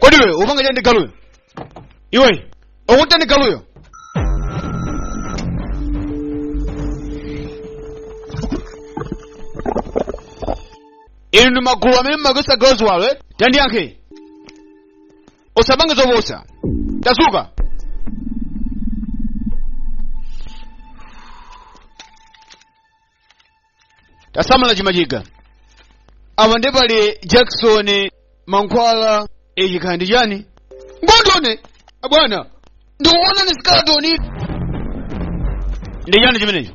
kodi iwe upanga chani ndi galuyo iwe ukuti ndi galuyo inu ndi magulu amene mumagwiritsa agalu ziwalo eh? tandiyankhe usapange zopusa tasuka tasamala chimachiga apa ndi pali jackson mankhwala ichi n'kanthu chani ngatino abwana ndikuona ni skeletoni ndi chani chimenecho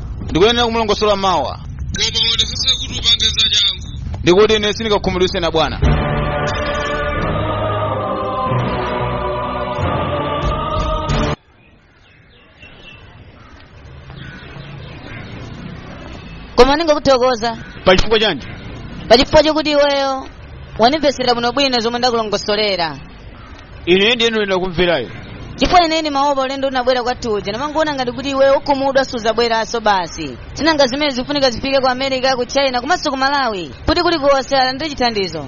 ndikuyenera kumulongosola mawa koma uonetsetse kuti upange za changu ndikuti ine ndisakakhumudwitsane ndi abwana koma ndingokuthokoza pa chifukwa chanji pa chifukwa chakuti iweyo wandimvetsera bwinobwino zomwe ndakulongosolera ine ndiye ndinene kumverako chifukwa ine ndimaopa ulendo unabwera kwathu uja ndimangoona ngati kuti iwe ukhumudwa suzabweranso basi tinanga zimene zikufunika zifike ku america ku china komanso ku malawi kuti kulikonse alandire chithandizo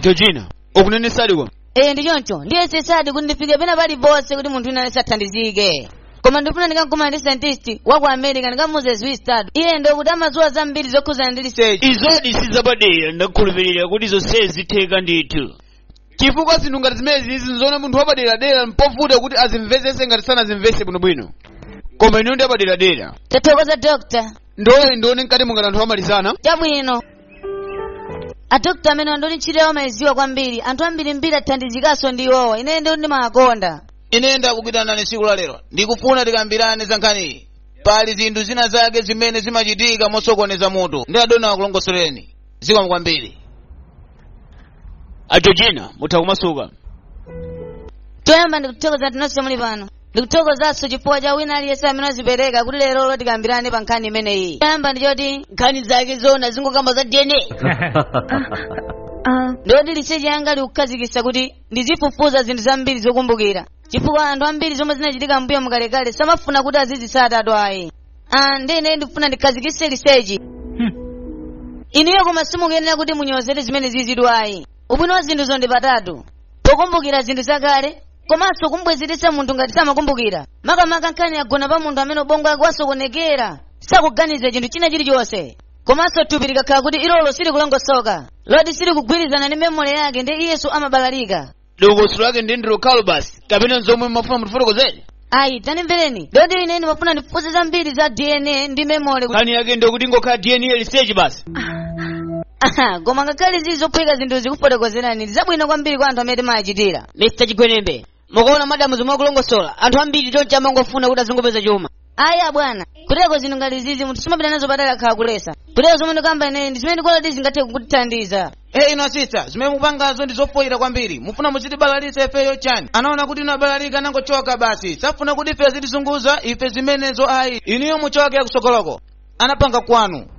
georgina ukunenetsadi kodi ee ndi choncho ndiyesesadi kuti ndifike pena pali ponse kuti munthu wina aliyense athandizike koma ndifuna ndikakumana ndi scientist wa ku america ndikamuuze zwisitadu iye ndi woti amadziwa zambiri zokhudzana ndi research izo ndi sizapadera ndakhulupirira kuti zonsezi zitheka ndithu chifukwa zinthu ngati zimenezi zimafuna munthu wapaderadera mpovuta kuti azimvetsetse ngati sanazimvetse bwinobwino koma inu ndi apaderadera tathokoza dokta ndiloleni ndione mkati muli ngati anthu amaliza chabwino adokta amene andoni ntchito yawo amayidziwa kwambiri anthu ambirimbiri athandizikanso ndi iwowa ine ndiwo ndimawakonda ine ndakuitanani tsiku la lero ndikufuna tikambirane za nkhaniyi pali zinthu zina zake zimene zimachitika mosokoneza mutu ndi adona akulongosolereni zikomo kwambiri a georgina mutha kumasuka toyamba ndikuthokoza kuti nonse muli pano ndikuthokozanso chifukwa cha wina aliyense amene wadzipereka kuti lerolo tikambirane pa nkhani imeneyi toyamba ndi choti nkhani zakezo zingokamba za dna Uh, ndiyoti research yanga ikukhazikitsa kuti ndizifufuza zinthu zambiri zokumbukira chifukwa anthu ambiri zomwe zinachitika mmbuyomu kalekale samafuna kuti azizitsatatu ayi Ah, ndi ine ndikufuna ndikhazikitse research inuyo koma simukuyenera kuti munyozere zimene zizidziwa ayi ubwino wa zinthuzo ndi patatu pokumbukira zinthu zakale komanso kumbwezeretsa munthu ngati samakumbukira makamaka nkhani yagona pa munthu amene ubongo wake wasokonekera sakuganiza chinthu china chilichonse komanso thupi likakhala kuti ilolo silikulongosoka loti silikugwirizana ndi memory yake ndiyenso amabalalika dongosolo lake ndiye lokhalo basi kapena zomwe mumafuna mutifotokozere ayi tanimvereni lero ndili ine ndimafuna ndifunse zambiri za dna ndi memory kuti- nkhani yake ndi kuti ingokhala dna research basi Aha, koma ngakhale zili zophweka zinthu ndikufotokozerani ndi zabwino kwambiri kwa anthu amene timayachitira mr chigwenembe mukuona madamu zomwe akulongosola anthu ambiri choncho amangofuna kuti azingopeza chuma ayi abwana kuteko zinthu ngati izizi munthu sumapita nazo patali akhala akuyesa kuteko zomwe ndikamba ineyi ndi zimene ndikuona kuti zingathe kukuthandiza e inu asisita zimene mupangazo ndi zofoyira kwambiri mufuna muzitibalalitsa ifeyo chani anaona kuti inu abalalika anangochoka basi safuna kuti ife azitizunguza ife zimenezo ayi inuyo muchoke kutsogoloko anapanga kwanuko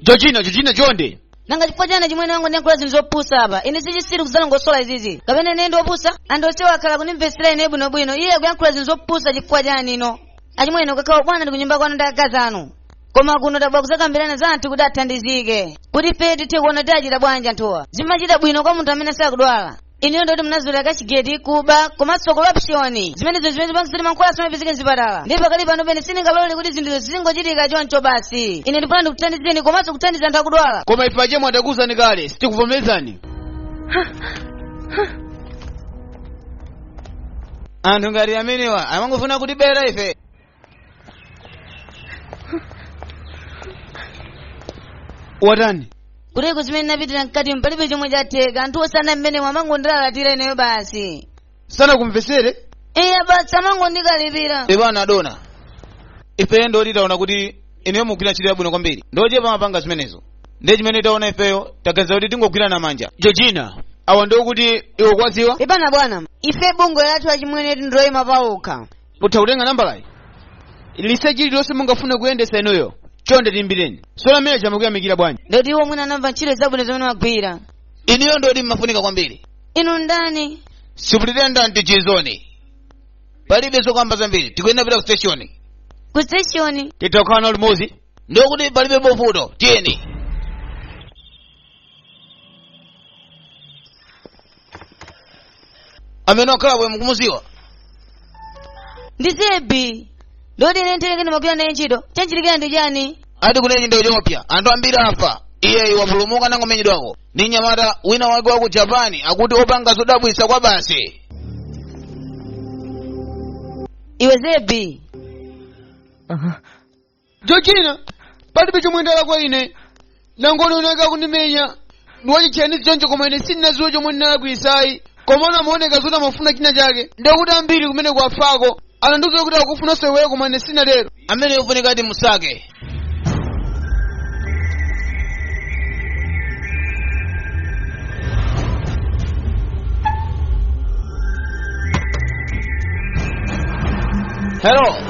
georgina georgina chonde nanga chifukwa chani achimwene anga akuyankhula zinthu zopusa apa ine ndi chitsiru kudzalongosola izizi kapena ine ndi opusa anthu onsewo akhala akundimvetsera ine bwinobwino iye akuyankhula zinthu zopusa chifukwa chani inu achimwene kukakhala ubwana ndi kunyumba kwanu ndi akazi anu koma kuno tabwera kudzakambirana za anthu kuti athandizike kuti ife tithe kuona kuti achita bwanji anthuwa zimachita bwino kwa munthu amene sakudwala inuyo ndoti munazolowera cashgate kuba komanso corruption zimenezo ndi zimene zipangitsa kuti mankhwala simapezeka mzipatala ndiye pakali panopa ine sindingalole kuti zinthuzo zizingochitika choncho basi ine ndifuna ndikuthandizeni komanso kuthandiza anthu akudwala koma ife achimwene tidakuuzani kale sitikuvomerezani anthu ngati amenewa amangofuna kutibera ife watani kuteko zimene ndinapitira mkati mpalibe chomwe chatheka anthuwo sana mmene amangondilalatira ineyo basi sanakumvesere iya basi amangondikalipira pepani adona ifeyo ndoti taona kuti inuyo mugwira ntchito yabwino kwambiri ndi ochepa amapanga zimenezo ndiye chimene taona ifeyo taganiza kuti tingogwirana manja georgina awa ndiwo kuti iwe kwadziwa pepani bwana ife bungwe lathu achimwene ndi loyima pawokha mutha kutenga nambalayi research lililonse mungafune kuyendetsa inuyo chonde tiyimbireni sola manager amakuyamikira bwanji ndoti iwo mwina anamva ntchito zabwino zimene mumagwira inuyo ndoti mmafunika kwambiri inu ndani superintendent chizoni palibe zokamba zambiri tikuyenera kupita ku station ku station titakhala nawo limodzi ndiye kuti palibe mavuto tiyeni amene wakhala bwe mukumuziwa ndi zebi ndoti ine ntelekeni ndimagwira naye ntchito chamuchitikira ndi chani ati ku kenya ndi ethiopia anthu ambiri afa iyeyi wapulumuka anangomenyedwako ndi mnyamata wina wake wa ku japani akuti opanga zodabwitsa kwabasi iwe zebi georgina palibe chomwe ndalakwa ine anangondiona nkundimenya ndi wachitchainizi choncho koma ine sindinaziwe chomwe ndinalakwisa ayi komano amaoneka zoti amafuna china chake ndikuti ambiri kumene kwathu ko anandiuza kuti akufuna sewero koma ine sinatero ameneyo ofunika ati musake hello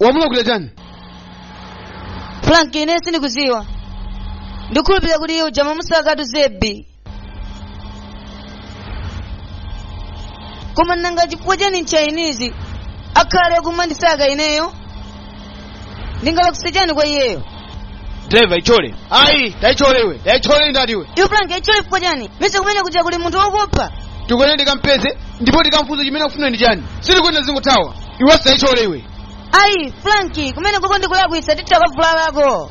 wamulakwira chani frank ine sindikuziwa ndikhulupirira kuti iye uja mmamusakatu zebi koma nanga chifukwa chani mchainizi akhale akumandisaka ineyo ndinalakwisa chani kwa iyeyo driver ichose ayi taichose iwe taichose ndati iwe iwe frank ichose chifukwa chani mmesa kumene kuja kuli munthu wokupha tikwaneni tikampeze ndipo tikamfunse chimene akufuna ndi chani sitikuyenera tizingothawa iwe taichose iwe ayi franki kumeneko ndikulakwisa titha kuvulalako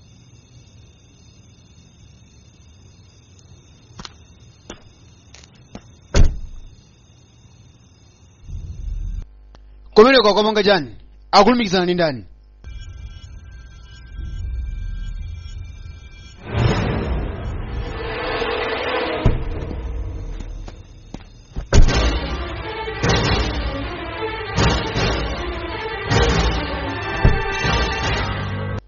kumeneko akumapanga chani akulumikizana ndi ndani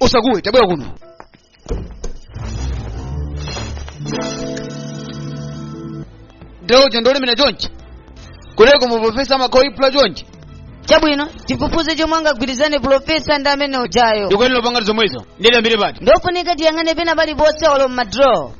osakuwe tabwera kuno drawer ndolemera chonchi kodi koma profesa amakoka yekha chonchi chabwino tifufuze chomwe amagwirizana pulofesa ndi amene ujayo ndikuyenera kupangadi zomwezo ndiyambire pati ndofunika ndiyang'ane pena paliponse olo mmadraw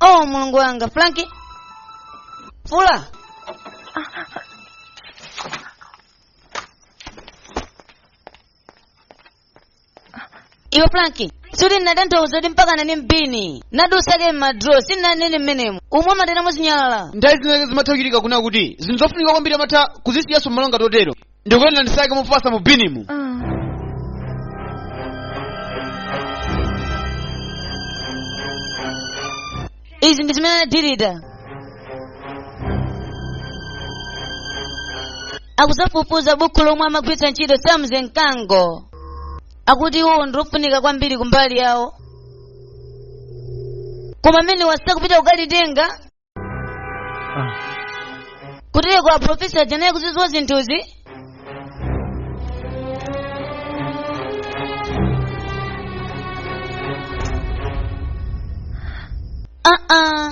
oh mulungu wanga franki tulo iwe franki sikuti ndinatanthauza kuti mpakana mu bini ndati usake m'madro sinanene mmenemo momwe amatayira zinyalala nthawi zinazake zimatha kuchitika kunena kuti zinthu zofunika kwambiri amatha kuzisiyanso m'malo ngati otero ndikuyenera ndisake mofasa mu binimo izi ndi zimene anadilita akuzafufuza bukhu lomwe amagwiritsa ntchito samze mkango akuti iwowo ndilofunika kwambiri kumbali yawo koma amene wasaka kupita kukalitenga kutereko aprofesa aja ndinayenera kuzidziwa zinthuzi aa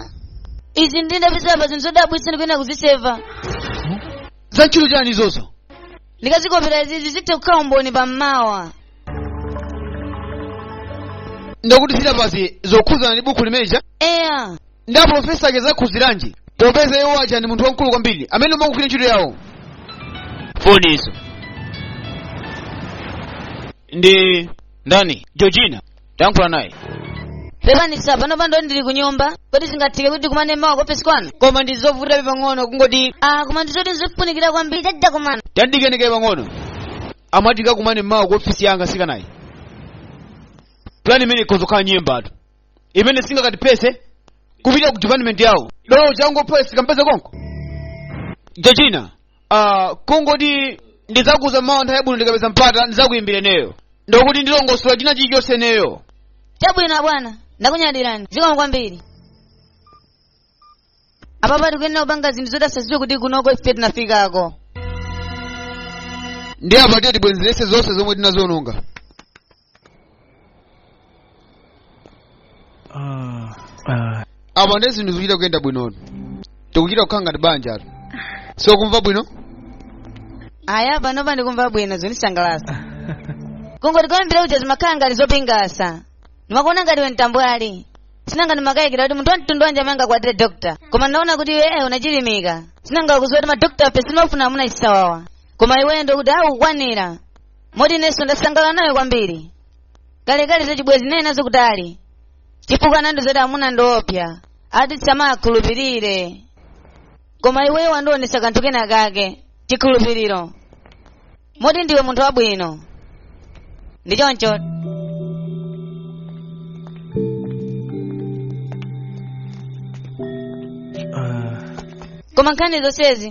izi ndinazipezapa zinthu zodabwitsa ndikuyenera kuziseva za ntchito chani izozo ndikazikopera izizi zithe kukhala umboni pammawa ndiye kuti ziripazi zokhudzana ndi buku limene lija eya ndi aprofesa aja zakhudziranji popeza iwo aja ndi munthu wamkulu kwambiri amene ukugwira ntchito yawo funso ndi ndani georgina tayankhula naye pepani sir panopa ndili ku nyumba kodi zingatheke kuti tikumane mawa ku ofesi kwanu koma ndi zovutirapo pang'ono kungoti ah koma ndizoti nzifunikira kwambiri titati takumana tandikenekere pang'ono amati tikakumane mawa ku ofisi ndiye nanga si kunali plan imene ikhoza kukhala nyemba atu imene singakatipese kupita ku department yawo dolo changu poti tikampeze konko georgina uh, kungoti ndidzakuuza mawa nthawi yabwino ndikapeza mpata ndidzakuyimbira ineyo ndiye kuti ndilongosola china chilichonse ineyo chabwino abwana ndakunyadirani zikomo kwambiri apapa tikuyenera kupanga zinthu zoti asaziwe kuti kunoko ife tinafikako ndiye apa tiye tibwenzerese zonse zomwe tinaziononga apa ndi zinthu zikuchita kuyenda bwinotu tikuchita kukhala ngati banja atu sokumva bwino aya panopa ndikumva bwino zandisangalasa kungoti koyambirira kuja zimakhala ngati zopingasa ndimakuona ngati iwe tambwali si nanga ndimakayikira kuti munthu wamtundu wanji amene angakwatire dokta koma ndaona kuti iwe unachilimika si nanga ukuziwa kuti madokta ife sitimafuna amuna chisawawa koma iweyo ndiye kuti ukukwanira moti inenso ndasangalala nawe kwambiri kalekale zachibwezi ndinali nazo kutali chifukwa anandiuza kuti amuna ndiopsa ati tisamawakhulupirire koma iweyo wandionetsa kanthu kena kake chikhulupiriro moti ndiwe munthu wabwino ndi choncho Ah, koma nkhani zonsezi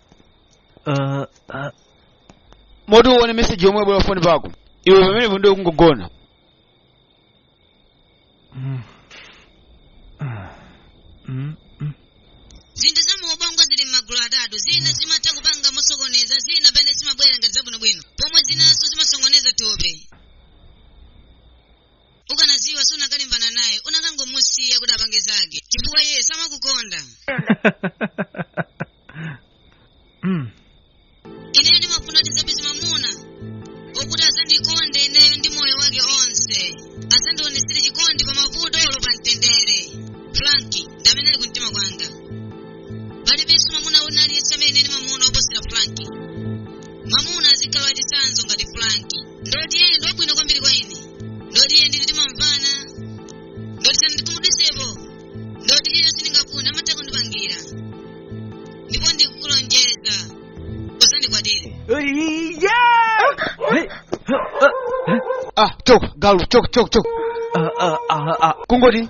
Uh, uh, moti uone meseji yomwe yabwera foni pako iwe pamenepo ndiye kungogona mm. Uh, mm, mm. zinthu za muubongo zili m'magulu atatu zina zimatha kupanga mosokoneza zina mwina zimabwera ngati zabwinobwino pomwe zinanso zimasokoneza thupi ukanaziwa siunakalimbana naye unakangomusiya kuti apange zake chifukwa iye samakukonda mm. ineyo ndimafuna kuti ndizapeze mamuna okuti azandikonde ineyo ndi moyo wake onse azandionesere chikondi pa mavuto olo pa mtendere franki ndi amene ali kumtima kwanga palibenso mamuna wina aliyense amene ndimamuona oposera franki mamuna azikhala wachitsanzo ngati franki ndoti iye ndi wabwino kwambiri kwa ine ndoti iye ndi ine timamvana ndoti sanandikhumudwitsepo ndoti iye zomwe ndingafune amatha kundipangira ndipo ndikukulonjeza suzandikwatira ah choka galu choka choka choka kungoti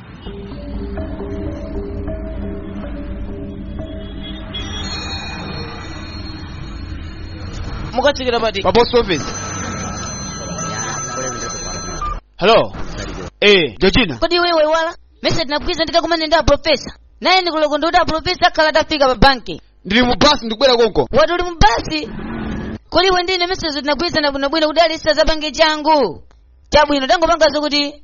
mukatsikira pati? pa post office hello eh georgina kodi iwe waiwala mesa tinagwirizana ndikakumane ndi aprofesa naye ndikuloko ndi kuti aprofesa akhala atafika pa banki ndili mu bus ndikubwera konko wati uli mu bus kodi iwe ndi ine mesezo tinagwirizana bwinobwino kuti alisa zapange changu chabwino tangopangazo kuti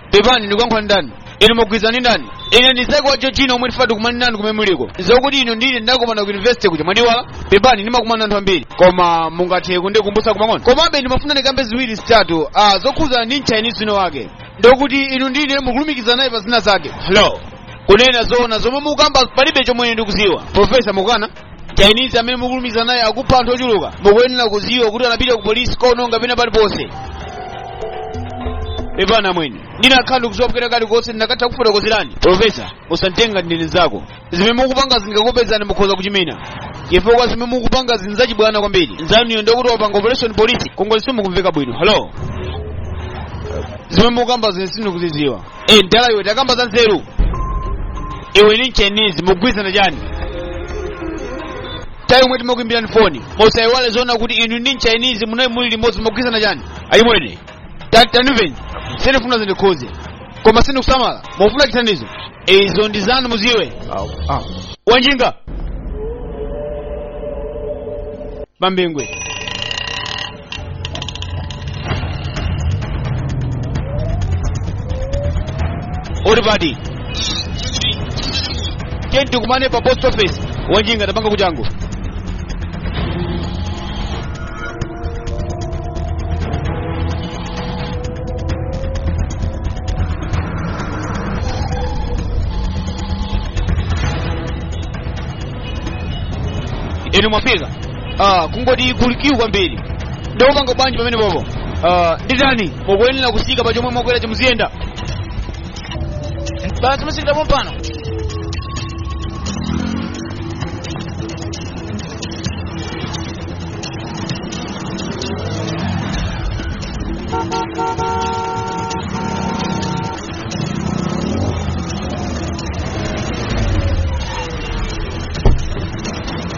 pepani ndikuyankhula ndi ndani inu mukugwirizana ndi ndani ine ndi Zaki wa georgina omwe ndifuna tikumane nanu kumene muliko zokuti inu ndi ine tinakumana ku university kuja mwandiiwala pepani ndimakumana anthu ambiri koma mungathe kundikumbutsa pang'ono komabe ndimafuna ndikambe ziwiri zitatu ah, zokhuzana ndi mchaina wina wake ndokuti inu ndi iye mukulumikizana naye pa zina zake hello kunena zoona zomwe mukukamba palibe chomwe ndikuziwa profesa mukukana chinese amene mukulumikizana naye akupha anthu ochuluka mukuyenera kuziwa kuti anapita ku polisi kukaononga pena paliponse pepana mwene ndinakakhala ndikuziwapo kalikonse ndinakatha kukufotokozerani profesa usanditenge ngati ndine nzako zimene mukupanga zikakupezani mukhoza kuchimwina chifukwa zimene mukupanga ndi zachibwana kwambiri mnzanuyo ndokuti wapanga operation polisi konko zisakumveka bwino halo zimene mukukambazi ine sindikuziziwa e mdala iwe takamba za nzeru iwe ndi mchinese mukugwirizana chani time yomwe timakuimbirani foni musaiwale zoona kuti inu ndi mchinese munayi muli limodzi mukugwirizana chani ayi mwene Ta- tandimveni sindikufuna zindikhuze koma sindikusamala mufuna chithandizo izo ndi zanu muziwe wanjinga pa Bingu uli pati tiye tikumane pa post office wanjinga tapanga changu inu mwafika ah, kungoti kulikiwu kwambiri ndikupanga bwanji pamene popo ah, nditani mukuyenera kutsika pa chomwe mwakwera chomwe muziyenda basi mutsikira pompano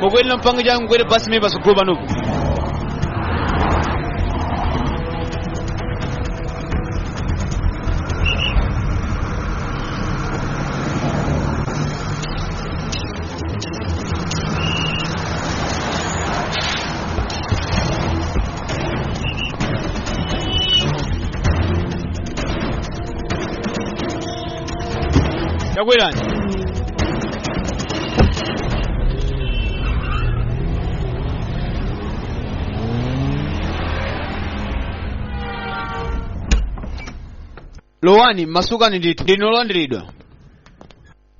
mukuyenera mpange changu kwerani basi mimi pasogolo panopo tabwerani lowani masukani ndithu ndinu olandiridwa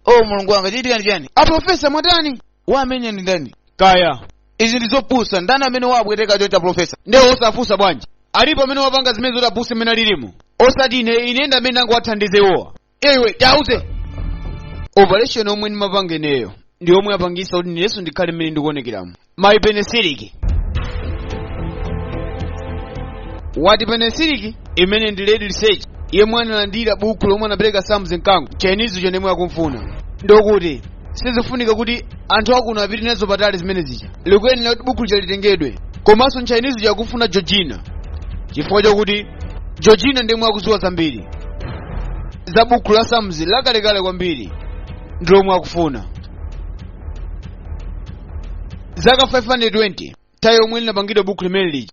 o mulungu wanga chachitika ndi chani aprofesa mwatani wawamenya ndi ndani kaya izi ndi zopusa ndani amene wawapweteka chonchi aprofesa nde osafunsa bwanji alipo amene wapanga zimenezi zopusa mmene alirimo osati ine ine ndi amene ndangowathandiza iwowa iwe tauze operation yomwe ndimapanga ineyo ndi yomwe yapangitsa kuti inenso ndikhale mmene ndikuonekeramo mayi penesiliki wati penesiliki imene ndi lady research yemwe analandira buku lomwe anapereka samze mkango chinese chija ndi omwe akumfuna ndokuti sizifunika kuti anthu akuno apite nazo patali zimene zija likuyenera kuti buku lija litengedwe komanso mchainizi uja akufuna georgina chifukwa chakuti georgina ndi omwe akudziwa zambiri za buku la samzi lakalekale kwambiri ndi lomwe akufuna zaka 520 tayi omwe linapangidwa buku limene lija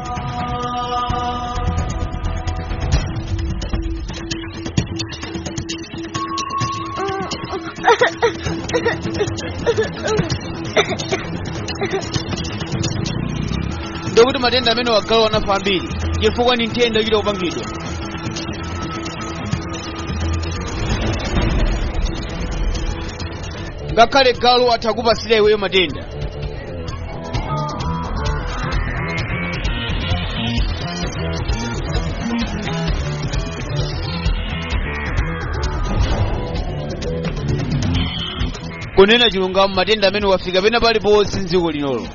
ndikuti matenda amene wa agalu anafa ambiri chifukwa ndi nthenda yochita kupangidwa ngakhale galu atha kupatsira iweyo matenda kunena chilungamo matenda amenewa afika pena paliponse mdziko linoli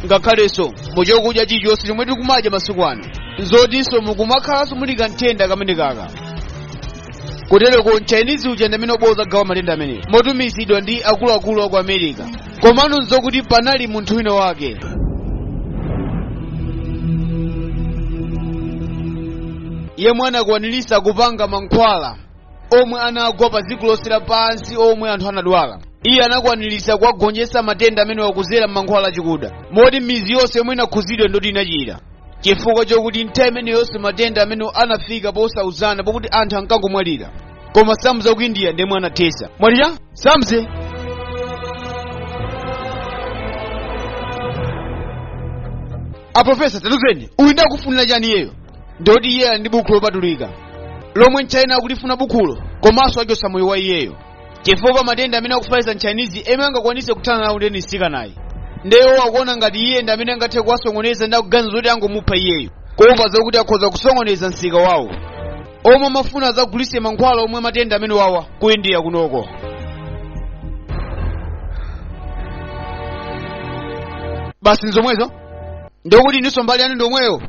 ngakhalenso mu chakudya chilichonse chomwe tikumadya masiku ano zotinso mukumakhalanso muli kanthenda kameneka ka kutereko mchinese uja ndi amene abwere adzagawa matenda amenewo motumizidwa ndi akuluakulu aku america komano nzokuti panali munthu wina wake yemwe anakwanirisa kupanga mankhwala omwe anagwa pa dziko lonse lapansi omwe anthu anadwala iye anakwanirisa kuwagonjetsa matenda amenewa kuzera m'mankhwala achikuda moti mizi yonse yomwe inakhuzidwa ndoti inachira chifukwa chokuti nthawi imeneyonso matenda amenewa anafika posauzana pokuti anthu ankangomwalira koma samza ku india ndemwe anathesa mwalira samze aprofesa tatuzeni uyu ndakufunira chani iyeyo ndoti iye ali ndi bukhu lopatulika lomwe mchayina akulifuna bukhulo komanso achosa moyo wa iyeyo chifukwa matenda amene akufalitsa mchinese yemwe angakwanise kuthana nawo ndi mtsikanayu nde iwowo akuona ngati iye ndi amene angathe kuwasokoneza nde akuganiza zoti angomupha iyeyo kuopa zokuti akhoza kusokoneza msika wawo omwe amafuna azagulise mankhwala omwe matenda amenewawa ku india kunoko basi nzomwezo ndikuti ininso mbali yanu ndiyomweyo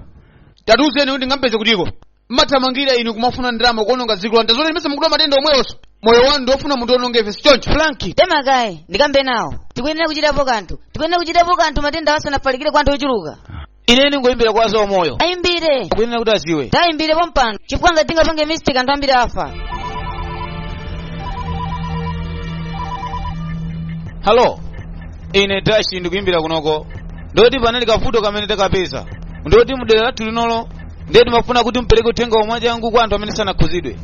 tatiuzeni kuti ndingampeze kutiko mmathamangira inu kumafuna ndalama kuononga dziko lanu tazoti limese mukudwala matenda omwewonso moyo wanu ndiwofuna munthu ononga ife sichoncho franki tema kaye ndikambe nawo tikuyenera kuchitapo kanthu tikuyenera kuchitapo kanthu matenda asanafalikire kwa anthu ochuluka ine ndingoyimbira kwa za moyo ayimbire akuyenera kuti adziwe tayimbire pompano chifukwa ngati tingapange mistake anthu ambiri afa halo ine dashi ndikuyimbira kunoko ndoti panali kavuto kamene takapeza ndoti m'dera lathu linolo ndiye timafuna kuti mupereke uthenga wa mwachangu kwa anthu amene sanakhuzidwe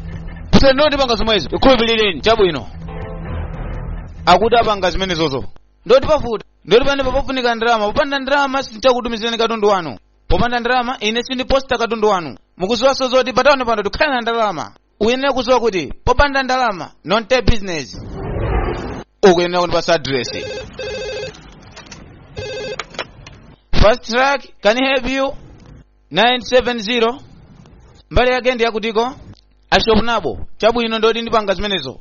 kutsendiko tipanga zomwezo tikhulupirireni chabwino akuti apanga zimenezozo ndoti pavuta ndoti panepa pafunika ndalama popanda ndalama sindichakutumizirani katundu wanu popanda ndalama ine sindiposta katundu wanu mukuziwaso zoti patawani pano tikhale ndi ndalama ukuyenera kudziwa kuti popanda ndalama no business ukuyenera kundipasa address fast track can I help you 970 mbali yake ndi yakutiko ashop nabo chabwino ndoti ndipanga zimenezo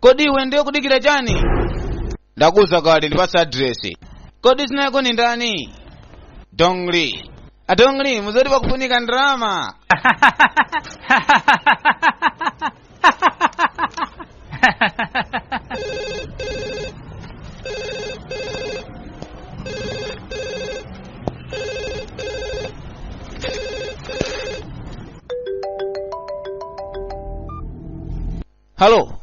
kodi iwe ndiye kudikira chani ndakuuza kale ndipasa adiresi kodi dzina lako ndi ndani dongli adongli muuze kuti pakufunika ndalama halo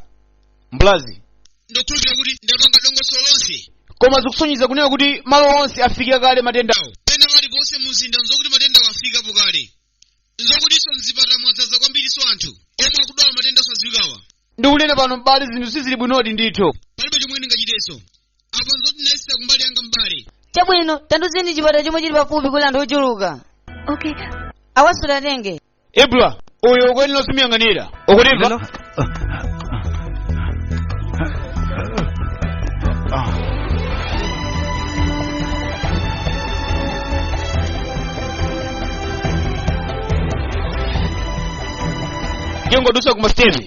mbulazi ndikukhulupirira kuti ndapanga dongosolo lonse koma zikusonyeza kunena kuti malo onse afikira kale matendawa pena paliponse mumzinda nzokuti matendawa afikapo kale nzokutinso mzipata mwadzaza kwambirinso anthu omwe akudwala matenda osadziwikawa ndikunena pano m'bale zinthu sizili bwinodi ndithu palibe chomwe ndingachitenso apa nzoti ndayesera kumbali yanga mbali chabwino tandiuzeni chipatala chomwe chili pafupi kuti anthu ochuluka Okay. awaso tatenge ibra uyu ukuyenera simuyang'anira ukutimva jengo dusa kuma stevi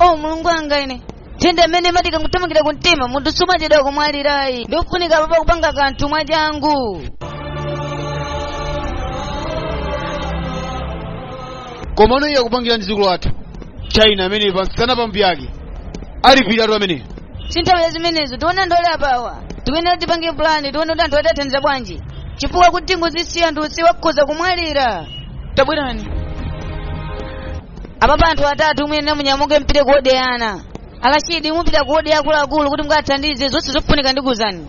o mulungu wanga ine nthenda imene imati ikangothamangira ku mtima munthu sumachedwa kumwalirayi ndiye kufunika apapa kupanga kanthu mwachangu koma mmene iye akupangira mu dziko lathu china mmene pansi pano pambali yake alipiratu amene sinthawi ya zimenezo tiona ndole apawa tikunena tipange pulani tione kuti anthu atathandiza bwanji chifukwa kuti tingozisiya anthu onse akhoza kumwalira tabwerani apapa anthu atatu muyenera munyamuke mupite kuwodi ya ana a rashidi mupita kuwodi ya akuluakulu kuti mukathandize zonse zofunika ndikuuzani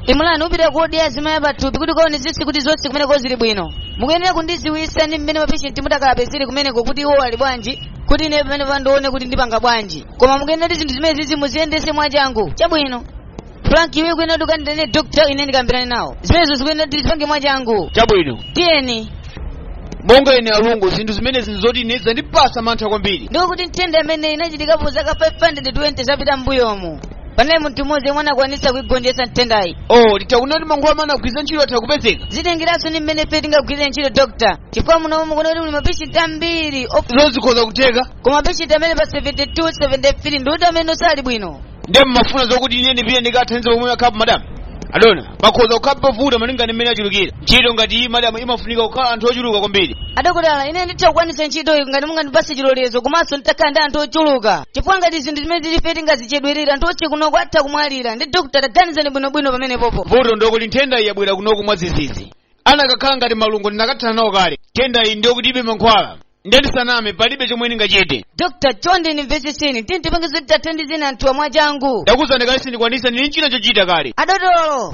imulani upita kuwodi ya azimayi apathupi kuti ukaone zisi kuti zonse kumeneko zili bwino mukuyenera kundidziwitsa ndi mmene mapeshenti mutakalape zili kumeneko kuti iwo ali bwanji kuti ine pamenepa ndione kuti ndipanga bwanji koma mukuyenera kuti zinthu zimenezizi muziyendetse mwachangu chabwino frank iwe ukuyenera kuti ukandiitanire dokta ine ndikambirane nawo zimenezo zikuyenera kuti tipange mwachangu chabwino tiyeni monga ine alungu zinthu zimenezi nzoti ine zandipatsa mantha kwambiri ndipo kuti nthenda imeneyi inachitikapo zaka 520 zapitazo m'mbuyomu panali munthu mmodzi yemwe anakwanitsa kuigonjetsa nthendayi ooh titha kunena kuti mankhwala amene anagwiritsa ntchito atha kupezeka zitengeranso ndi mmene ife tingagwirire ntchito dokta chifukwa muno mukuona kuti muli mapeshenti ambiri op- zikhoza kutheka koma peshenti amene ali pa 72 73 ndi uti amene sali bwino ndiye mmafuna zokuti ine ndipite ndikathandize pomwe okhapo madamu adona pakhoza kukhala povuta malinga ndi mmene achulukira ntchito ngati iyi madamu imafunika kukhala anthu ochuluka kwambiri adokotala ine nditha kukwanitsa ntchito iyi ngati mungandipase chilolezo komanso nditakhala ndi anthu ochuluka chifukwa ngati zinthu zimene tilife tingazichedwetse anthu onse kunoko atha kumwalira ndiye adokotala ganizani bwinobwino pamenepopo vuto ndokuti nthenda iyi yabwera kunoko mwadzidzidzi anakakhala ngati malungo ndinakathana nawo kale nthenda iyi ndi yokuti ilibe mankhwala ndiye ndisaname palibe chomwe ndingachite dr chonde ndimvetsetseni tiyeni tipange zoti tiwathandize anthuwa mwachangu ndakuuzani kale sindikwanitsa ndili nchina chochita kale adotolo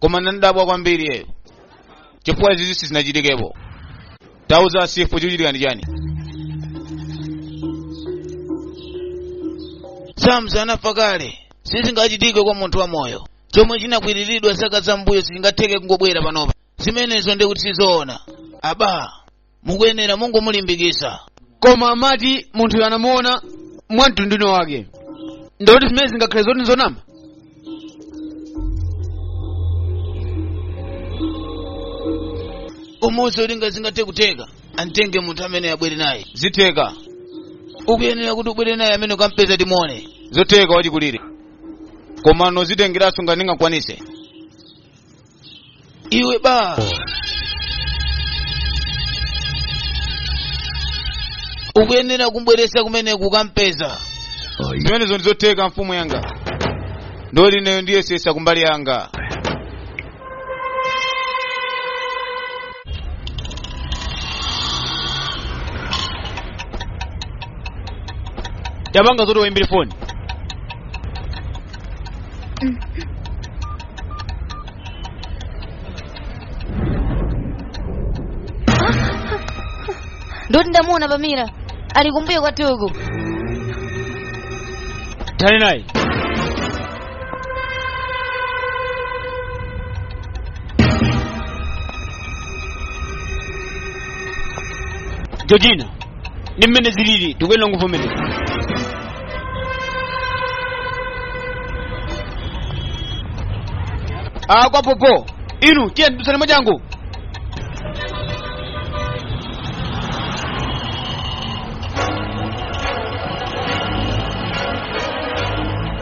koma ndinadabwa kwambiri yeyo chifukwa zizi sizinachitikepo tauzani chifu chikuchitika ndi chani samzi anafa kale sizingachitike kwa munthu wamoyo chomwe chinakwiriridwa zaka zambuyo sichingatheke kungobwera panopa zimenezo ndikuti sizoona aba mukuyenera mungomulimbikitsa koma amati munthuyo anamuona mwa mtundu wake ndikuti zimene zingakhale zoti nzonama umuuze olo ngati zingathe kutheka antenge munthu amene abwere naye zitheka ukuyenera kuti ubwere naye kumene ukampeza timuone zotheka wachikulire komano zitengeranso ngati ndingakwanise iwe ba ukuyenera kumbweretsa kumene ukampeze zimenezo ndizotheka mfumu yanga ndipo ineyo ndiyesesa kumbali yanga tapanga zoti waimbire foni ndoti ndamuona pamira ali kumbuyo kwathuku tali naye georgina ndi mmene zilili tikuyenera kuvomereza ah kwa popo inu tiyeni tithandizane mwachangu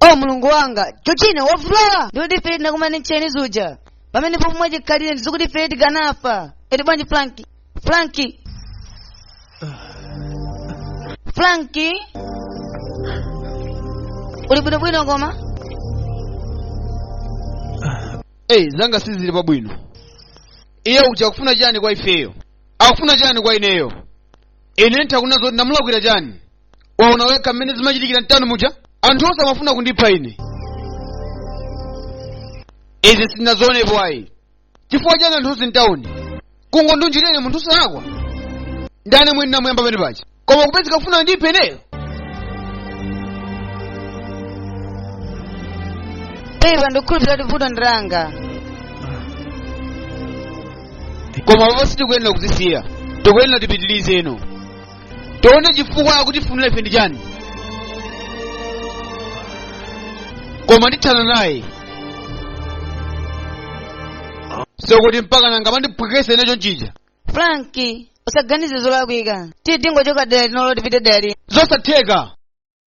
o mulungu wanga chochine wavulala ndikuti ife tinakumana ndi ntcheni zuja pamene pomwe mwachikhalire ndizikuti ife tikanafa eti bwanji franki franki franki uli bwinobwino koma ayi zanga sizili pabwino iye uja akufuna chani kwa ifeyo akufuna chani kwa ineyo ine ndikuona zoti ndamulakwira chani waona wekha mmene zimachitikira mtawuni muja anthu onse amafuna kundipha ine izi sindinazionepo ayi chifukwa chani anthu onse mtawuni kungondilunjika ine munthu wosalakwa ndani mwini namuyamba pene paja koma kupezeka kufuna kundipha ineyo pepa ndikukhulupirira kuti vuto ndi langa koma apapa sitikuyenera kuzisiya tikuyenera tipitirizeno tione chifukwa akutifunira ifeyo ndi chani koma ndithana naye zokuti mpaka nanga amandiphwekesa ine chonchija Frank usaganize zolakwika tiye tingochoka dera linolo tipite dera lina zosatheka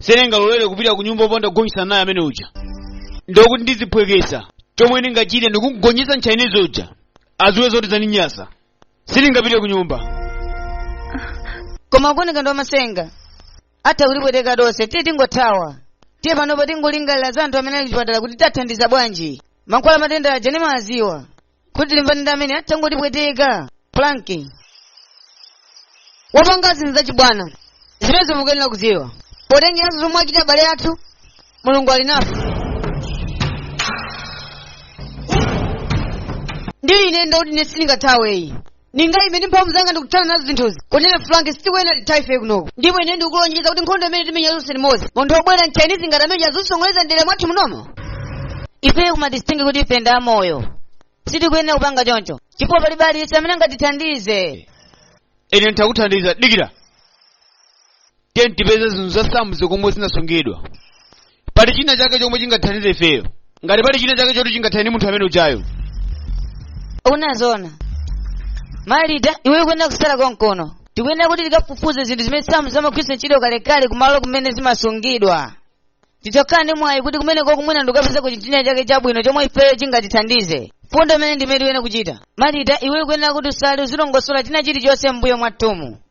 sindingalolere kupita ku nyumba opanda kugonjetsana naye amene uja ndi akuti ndiziphwekesa chomwe ndingachite ndikumugonjetsa mtchainizi uja aziwe zoti zandinyasa sindingapite ku nyumba koma akuoneka ndi wamasenga atha kutipweteka tonse tiye tingothawa tiye panopa tingolingalira za anthu amene ali kuchipatala kuti tiwathandiza bwanji mankhwala matenda aja ndimawaziwa kuti tilimbane ndi amene atangotipweteka Frank wapanga zinthu zachibwana zimenezo mukuyenera kudziwa potengeranso zomwe achita abale athu mulungu ali nafe ndipo ine ndakuti ine sindingathaweyi ndingaime ndi mphamvu zanga ndikuthana nazo zinthuzi kunena frank sitikuyenera tithawe ife kunoko ndipo ine ndikulonjeza kuti nkhondo imene timenya tonse limodzi munthu wobwera mchinese ngati ameneyu azisokoneza mdera mwathu munomo ife kumadistingi kuti ife ndi amoyo sitikuyenera kupanga choncho chifukwa palibe aliyense amene angatithandize ine nditakuthandiza dikira tiye tipeze zinthu za samu zikomwe zinasungidwa pali china chake chomwe chingathandize ifeyo ngati pali china chake choti chingathandize munthu amene ujayo Malita iwe ukuyenera kusala konkono tikuyenera kuti tikafufuze zinthu zimene samu amagwiritsa ntchito kalekale kumalo kumene zimasungidwa titha kukhala ndi mwayi kuti kumeneko mwina ndikukapezako chinthu china chake chabwino chomwe ifeyo chingatithandize mfundo imene ndimene tiyenera kuchita Malita iwe ukuyenera kuti usale uzilongosola china chilichonse m'mbuyo mwathumu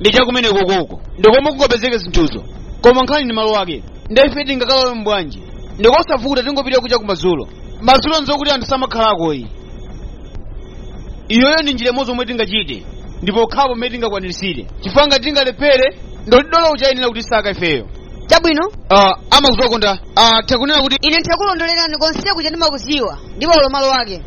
ndi cha kumenekokoko ndikomwe kungapezeke zinthuzo koma nkhani ndi malo ake nde ife tingakalowemo bwanji ndikosavuta tingopita kuja kumadzulo madzulo nzokuti anthu samakhalakoyi iyoyo ndi njira imodzi omwe tingachite ndi pokhapo mmene tingakwanirisire chifukwa ngati tingalephere ndiye kuti dolo uja ayenera kutisaka ifeyo chabwino uh, amakuziwako nda uh, takunena kuti ine nditakulondolerani konse kuja ndimakuziwa ndipo ndi malo ake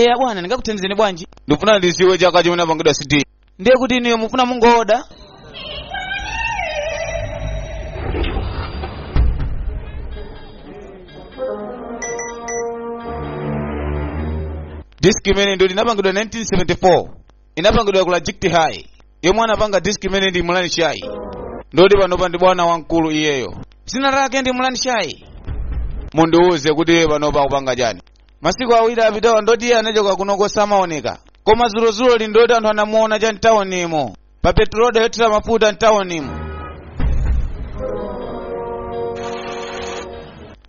eya bwana ndingakuthandizeni bwanji ndikufuna ndiziwe chaka chimene inapangidwa cd ndiye kuti inuyo mufuna mungooda disk imene inapangidwa 1974 inapangidwa ku lajikti high yomwe anapanga disk imene ndi mulani shayi ndoti panopa ndi bwana wamkulu iyeyo dzina lake ndi mulani shayi mundiwuze kuti iye panopa akupanga chani masiku awiri apitawa ndoti iye anachoka kuno kosamaoneka koma zulozulo li ndoti anthu anamuona cha mtawonimo pa petroda yothira mafuta mtawonimo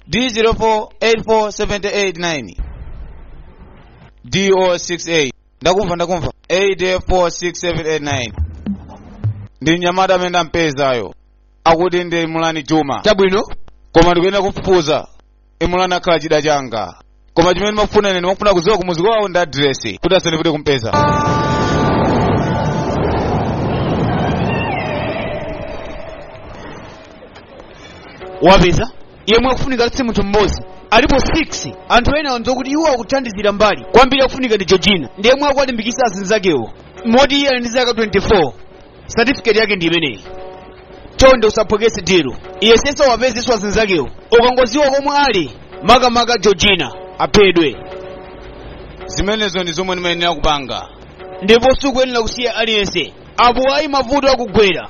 D0484789 DO68 ndakumva ndakumva 846789 ndi mnyamata amene ndampezayo akuti ndi Imran chuma chabwino koma ndikuyenera kufufuza Imran akhala chida changa koma chimene ndimafuna ine ndikufuna kudziwa kumuzi kwawo ndi adiresi kuti asandivute kumpeza wapeza yemwe akufunika si munthu mmodzi alipo 6 anthu ena andiuza kuti iwo akuthandizira mbali kwambiri akufunika ndi georgina ndi yemwe akuwalimbikitsa azinzakewo moti iye ali ndi zaka 24 satifiketi yake ndi imeneyi chonde usaphokese dero iye sese wapezenso azinzakewo ukangodziwa komwe ali makamaka georgina aphedwe zimenezo ndi zomwe ndimayenera kupanga ndipo sukuyenera kusiya aliyense apo ayi mavuto akugwera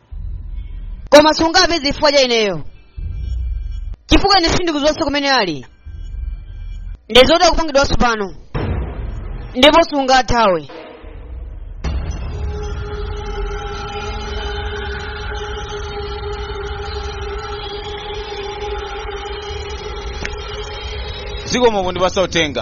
koma sungawapeze chifukwa cha ineyo chifukwa ine sindikudziwanso kumene ali ndizoti akupangidwa tsopano ndipo sungathawe zikomo pondipatsa uthenga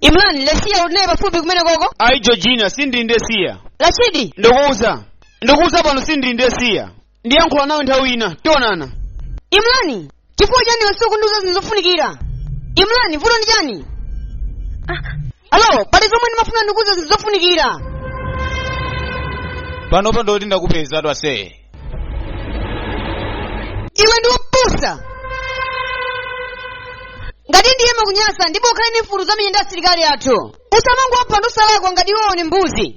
imran lesiya uli naye pafupi kumene koko ayi georgina sindili ndi lesiya rashidi ndikuwuza ndikuwuza pano sindili ndi lesiya ndiyankhula nawe nthawi ina tionana imrani chifukwa chani wasowa kundiuza zinthu zofunikira imrani vuto ndi chani alo pali zomwe ndimafuna ndikuuze zinthu zofunikira panopa ndoti ndakupeza twase iwe ndi wopusa ngati ndiwe mwamuna ndipo ukhale ndi mfuti uzimenyana ndi asilikali athu usamangopha anthu osalakwa ngati iwe uli mbuzi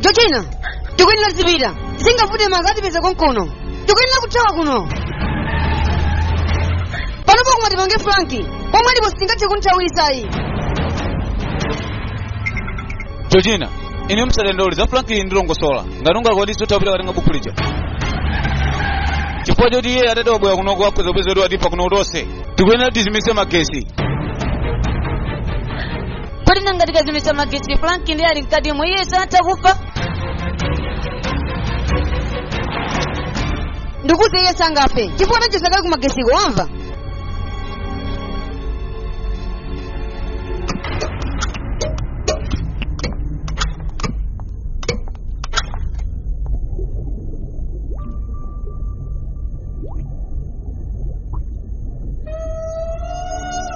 georgina tikuyenera tizipita zingavute ngati atipeza konkuno tikuyenera kuthawa kuno pano koma tipange franki pomwe ndipo sitingathe kumuthawitsa ayi georgina iwe usadandaule za franki ndilongosola ngati ungakwanitse utha kupita kukatenga bukhu lija chifukwa choti iye atati wabwera kuno akhoza kupeza kuti watipha kuno tonse tikuyenera tizimitse magesi kodi nanga tikazimitsa magetsi frank ndiye ali mkatimo iye samatha kufa ndikuti iye sangafe chifukwa tachotsa kale ku magetsiko wamva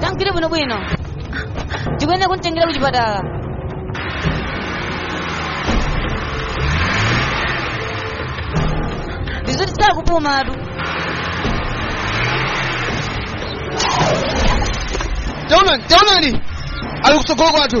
Tamugwire bwino bwino. Tikuyenda kumtengera ku chipatala. Ndizoti sakupuma atu. taonani taonani ali kutsogolo kwathu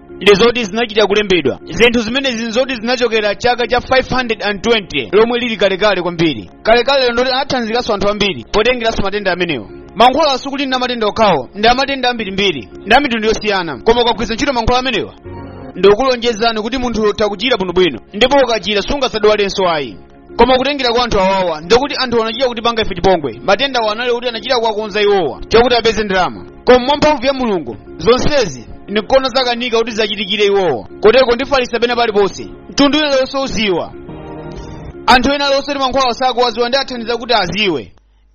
ndi zoti zinachita kulembedwa zinthu zimenezi ndi zoti zinachokera chaka cha 520 lomwe lili kalekale kwambiri kalekale lero ndoti anathandizikanso anthu ambiri potengeranso matenda amenewa mankhwala asakhale ndi a matenda okhawo ndi a matenda ambirimbiri ndi a mitundu yosiyana koma ukagwiritsa ntchito mankhwala amenewa ndikulonjezani kuti munthu utha kuchira bwinobwino ndipo ukachira sungazadwalenso ayi koma kutengera kwa anthu awawa ndi kwakuti anthuwo anachita kutipanga ife chipongwe matenda awa anali kuti anachita kuwakonza iwowa chakuti apeze ndalama koma mwa mphamvu ya mulungu zonsezi ndikuona zakanika kuti ziwachitikire iwowa koteroko ndifalitsa pena paliponse munthu wina aliyense aziwa anthu ena alionse kuti mankhwala osakuwaziwa ndiwathandiza kuti aziwe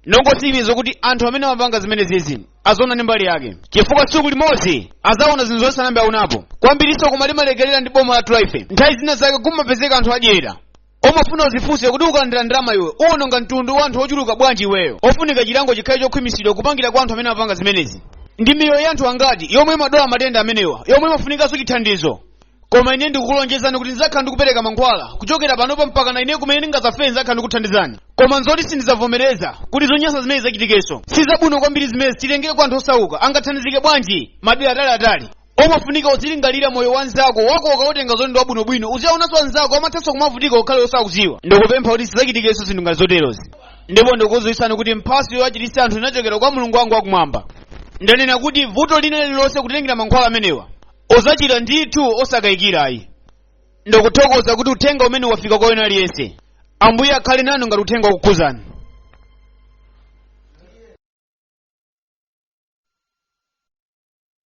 ndongotsimikiza kuti anthu amene amapanga zimenezizi aziona ndi mbali yake chifukwa tsiku limodzi azaona zinthu zonse anambe aunapo kwambirinso koma limalekerera ndi boma lathuli ife nthawi zina zake kumapezeka anthu adyera umafuna uzifunse kuti ukalandira ndalama iwe uwononga mtundu wa anthu ochuluka bwanji iweyo ofunika chilango chikhale chokhwimitsidwa kupangira kwa anthu amene amapanga zimenezi ndi miyoyo ya anthu angati yomwe imadwala matenda amenewa yomwe imafunikanso chithandizo koma ine ndikukulonjezani kuti ndidzakhala ndikupereka mankhwala kuchokera panopa mpaka na ine kumene ndingazafe ndidzakhala ndikuthandizani koma nzoti sindizavomereza kuti zonyansa zimenezi zichitikenso si zabwino kwambiri zimenezi titengere kwa anthu osauka angathandizike bwanji madera ataliatali umafunika uzilingalira moyo wa nzako wako ukautenga zoti ndi wabwinobwino uziwaonanso anzako amathanso kumavutika ukhala osakuziwa ndikupempha kuti sizachitikenso zinthu ngati zoterozi ndipo ndikukudziwitsani kuti mphatso yowachiritsa anthu inachokera kwa mulungu wangu wakumwamba ndanena kuti vuto lina lililonse kutengera mankhwala amenewa uzachira ndithu osakayikira ayi ndikuthokoza kuti uthenga umenewu wafika kwa wina aliyense ambuye akhale nanu ngati uthenga wakukhuzani